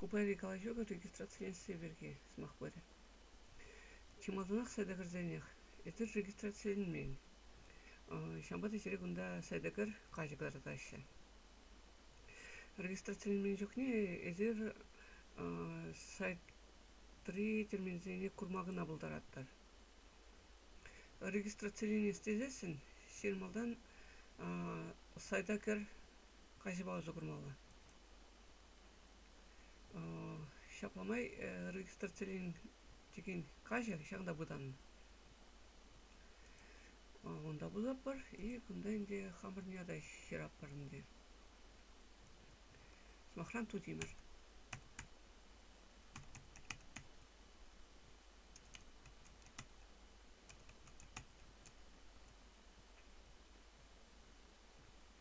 Ку пайри калаҫу регистрациленсси пирки сӑмах пырӗ. Чи малтанах сайта кӗрсенех. Эсир регистрациленмен. Ҫавӑнпа та сире кунта сайта кӗр каҫӑ кӑтартаҫҫӗ. Регистрациленмен чухне эсир сайтри терминсене курма кӑна пултаратӑр. Регистрациленес тесессӗн ҫирӗм малтан сайта кӗр каҫӑпа усӑ курмалла. Ҫапла май регистрациленекен каҫӑ ҫак та пытаннӑ. Унта пытатпӑр и кунта ӗнтӗ хамӑрӑн ята ҫыратпӑр ӗнтӗ. Сӑмахран, тутимӗр.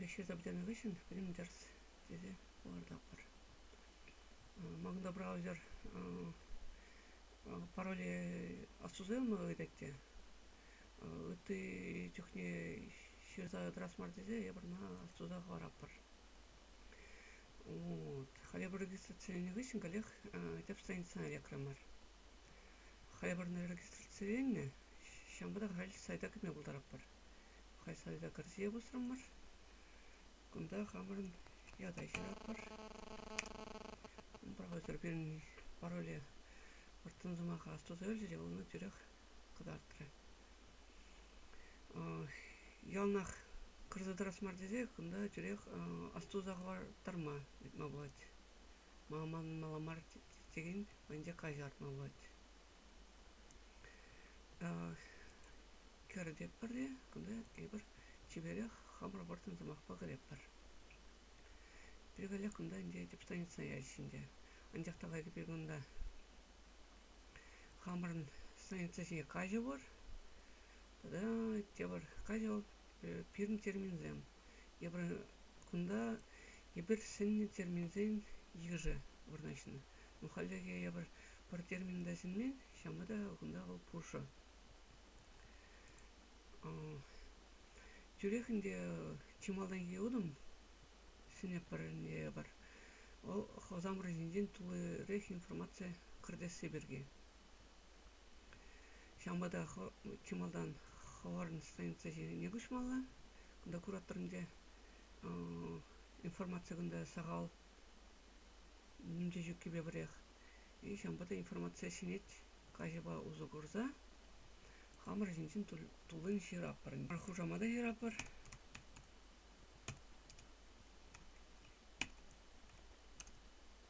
лешӗ тӑпӑтанӑ хыҫҫӑн пӗтӗм тӗрӗс тесе палӑртатпӑр ман тӑпра ӳсӗр пароли отсусем ыйтать те ытти чухне ҫырса тӑрас мар тесе эпир ӑна отсуса хӑваратпӑр вот халӗ регистрациленӗ хыҫҫӑн каллех тӗп страницӑна лекрӗмӗр Хӑйпӗрне регистраци илнӗ, ҫавӑнпа та халь сайта кӗме пултаратпӑр. Халь сайта кӗрсе пусрӑмӑр. Кунта хамӑрӑн ята ҫыратпӑр. Профессор пирӗн пароле вӑрттӑн сӑмаха астуса илчӗ те вӑл ӑна тӳрех кӑтартрӗ. Яланах кӗрсе тӑрас мар тесе кунта тӳрех астуса хӑвартарма ыйтма пулать. Манмалла мар терен мӗнле каҫартма пулать. Кӗртетпӗр те кунта эпир чиперех хамӑр вӑрттӑн сӑмахпа кӗретпӗр. Пирӗнле кунта ӗнтӗ тӗп станица ячӗ ӗнтӗ. Анчах та кайри пир кунта хамӑрӑн станица ҫине каҫӑ пур тата тепӗр каҫӑ пирӗн терминсем. Кунта эпир сӗннӗ терминсен йышӗ вырнаҫнӑ. Но хальлӗхе эпир пӗр термин та сӗнмен, ҫавӑнпа та кунта вӑл пушӑ. Тӳрех ӗнтӗ чи малтанхи утӑм сӗнӗпӗр ӗнтӗ эпир. Вӑл Хусанпур ҫинчен туллирех информаци кӗртесси пирки. Ҫавӑнпа та чи малтан хӑварӑн станица ҫине куҫмалла. Кунта кураторӑнче информаци кунта сахал мунча ҫуккипе пӗрех. И ҫавӑнпа та информаци ҫӗнет каҫӑпа усӑ курса. Хамӑр ҫинчен туллин ҫыратпӑр. Хушама та ҫыратпӑр.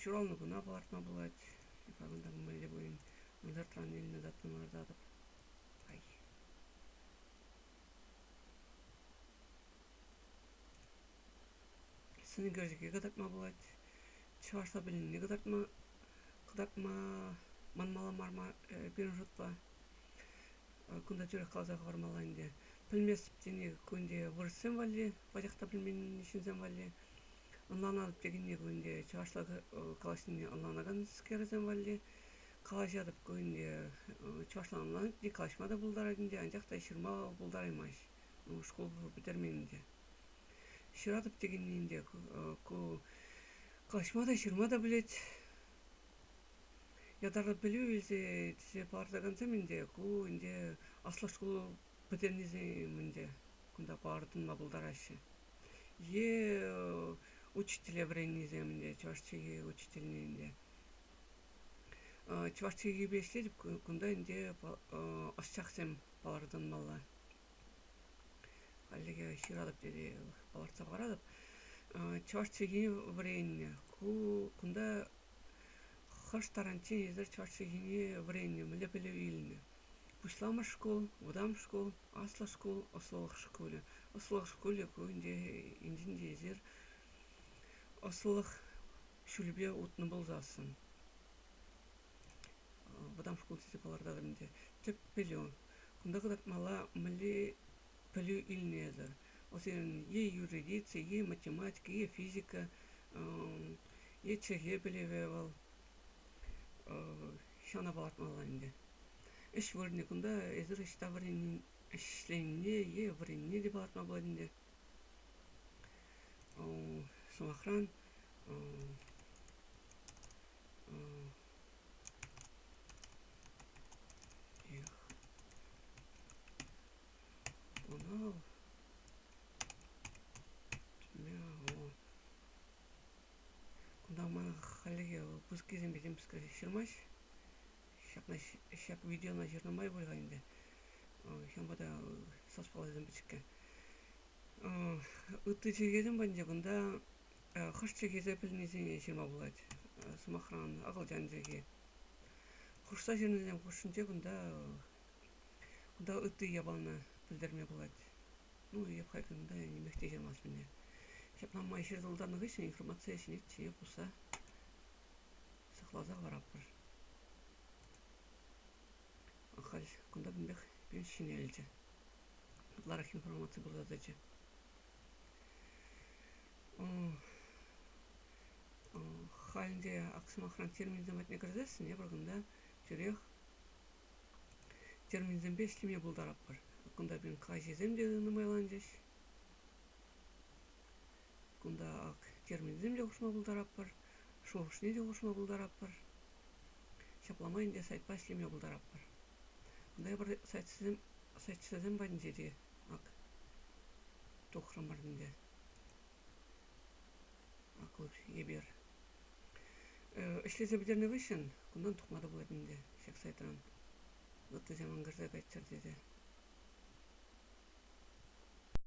Ҫуралнӑ куна палӑртма пулать. Ҫакӑнта мӗнле пулин ӑнсӑртран илнӗ датӑна кӑтартатӑп. Ай. Сӑнӳкерчӗке кӑтартма пулать. Чӑвашла пӗлнине кӑтартма кӑтартма манмалла мар пирӗн шутпа. кунта тӳрех каласа хӑвармалла ӗнтӗ пӗлместӗп тени кунде вырӑссем валли пачах та пӗлмен ҫынсем валли ӑнланатӑп текенни кунде чӑвашла калаҫнине ӑнланаканскерсем валли калаҫатӑп кунде чӑвашла ӑнланать те калаҫма та пултарать ӗнтӗ анчах та ҫырма пултараймасть шкул пӗтермен ӗнтӗ ҫыратӑп текенни ӗнтӗ ку калаҫма та ҫырма та пӗлет ятарлӑ пӗлӳ илсе тесе палӑртакансем ӗнтӗ ку ӗнтӗ аслӑ шкул пӗтернисем ӗнтӗ кунта палӑртма пултараҫҫӗ е учителе вӗреннисем ӗнтӗ чӑваш чӗлхи учительне ӗнтӗ чӑваш чӗлхипе ӗҫлетӗп кунта ӗнтӗ ӑсчахсем палӑртӑнмалла хальлӗхе ҫыратӑп тесе палӑртса хӑваратӑп чӑваш чӗлхине вӗреннӗ ку кунта Хӑш таранччен эсир чӑваш чӗлхине вӗреннӗ, мӗнле пӗлӳ илнӗ? Пуҫламӑш шкул, вӑтам шкул, аслӑ шкул, ӑслӑлӑх шкулӗ. Ӑслӑлӑх шкулӗ кунӗнче инҫен те эсир ӑслӑлӑх ҫулӗпе утнӑ пулсассӑн. Вӑтам шкул тесе палӑртатӑр ӗнтӗ. Тӗп пӗлӳ. Кунта кӑтартмалла мӗнле пӗлӳ илнӗ-тӗр. Вӗсем е юридици, е математика, е физика, е чӗлхе пӗлӗвӗ вӑл. Ҫавна палӑртмалла ӗнтӗ. Ӗҫ вырӑнӗ кунта эсир ӑҫта вӗренни, ӗҫленине е вӗреннине те палӑртма пулать ӗнтӗ. Сӑмахран, Эх, бунал тьмяу. Кунта ман хальлӗхе выпусккисемпе тем пысӑкрах ҫырмасть. Ҫакна ҫак видеона ҫырнӑ май пуль-ха ӗнтӗ. Ҫавӑнпа та сас паллисем пӗчӗккӗ. Ытти чӗлхесем патӗнче кунта хӑш чӗлхесе пӗлнисене ҫырма пулать. Сӑмахран, акӑлчан чӗлхи. Хушса ҫырнисем хушшинче кунта кунта ытти япалана пӗлтерме пулать. Ну, эп халь кунта нимех те ҫырмасть мене. Ҫапла май ҫыртӑлтанӑ хыҫҫӑн информацие ҫӗнетчӗ е пусса сыхласа хӑваратпӑр. Халь кунта кунпех пирӗн ҫӗнелчӗ. Ытларах информаци пырса тӑчӗ. Халӗ сӑмахран терминсем патне кӗрсессӗн эпир кунта тӳрех терминсемпе ӗҫлеме пултаратпӑр. Кунта пирӗн каҫӑсем те нумайланчӗҫ. Кунта ак терминсем те хушма пултаратпӑр, шухӑшне те хушма пултаратпӑр. Ҫапла май ӗнтӗ сайтпа ӗҫлеме пултаратпӑр. Тепӗр сайтсем патӗнче те ак тухрӑмӑр ӗнтӗ. Аклӑх, эпир. Ӗҫлесе пӗтернӗ хыҫҫӑн кунтан тухма та пулать ӗнтӗ ҫак сайтран. Ыттисем ӑнкӑрса кайччӑр тесе.